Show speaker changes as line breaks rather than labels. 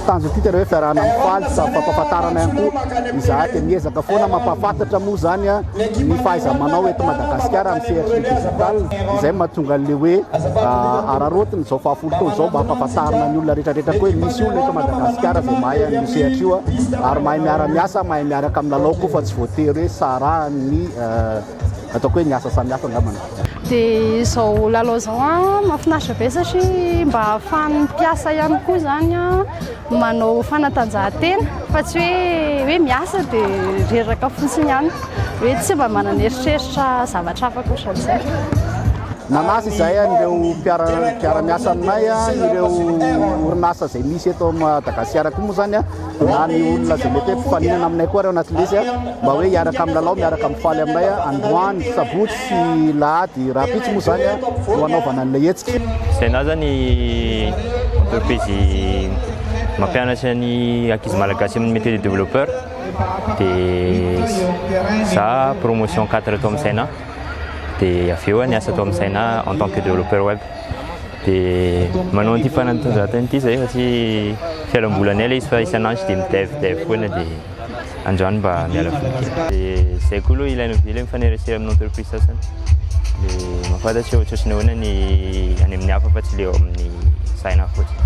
tanjony ity tena hoe fiarahana mifaly sady fampahafantarana ihany koa izahay dia miezaka foana mampahafantatra moa izany ny fahaiza-manao eto Madagasikara amin'ny sehatry ny digital, izay no mahatonga an'ilay hoe araraotina izao fahafolo taona izao mba hampahafantarina ny olona rehetrarehetra koa hoe misy olona eto Madagasikara izay mahay an'io sehatra io ary mahay miara-miasa, mahay miaraka amin'ny lalao koa fa tsy voatery hoe sarahan'ny ataoko hoe ny asa samihafa angambany. Dia izao
lalao izao mahafinaritra be satria mba ahafahan'ny mpiasa ihany koa izany manao fanatanjahantena fa tsy hoe hoe miasa dia reraka fotsiny ihany hoe tsy mba manana eritreritra zavatra hafa ankoatran'izay.
Nanasa izay an'ireo mpiara-miasa aminay ireo orinasa izay misy eto Madagasikara koa moa izany na ny olona izay mety hoe mpifaninana aminay koa ireo anatin'izay mba hoe hiaraka amin'ny lalao miaraka amin'ny faly aminay androany sabotsy Tsy lahady rahampitso moa izany no anaovana an'ilay hetsika. Saina aza ny
entreprise mampianatra ny ankizy malagasy amin'ny métier de développeur dia za promotion 4 tao amin'ny Saina dia avy eo niasa tao amin'ny Saina en tant que développeur web dia manao an'ity fanatanjahantena ity izahay satria fialambolinay ilay izy fa isan'andro dia mi-dev dev foana dia Andro any mba miala voly kely. Dia izay koa aloha ilaina be ilay mifanerasera amin'ny entreprise sasany. Dia mahafantatra hoe ohatrany ahoana ny any amin'ny hafa fa tsy ilay ao amin'ny saina fotsiny.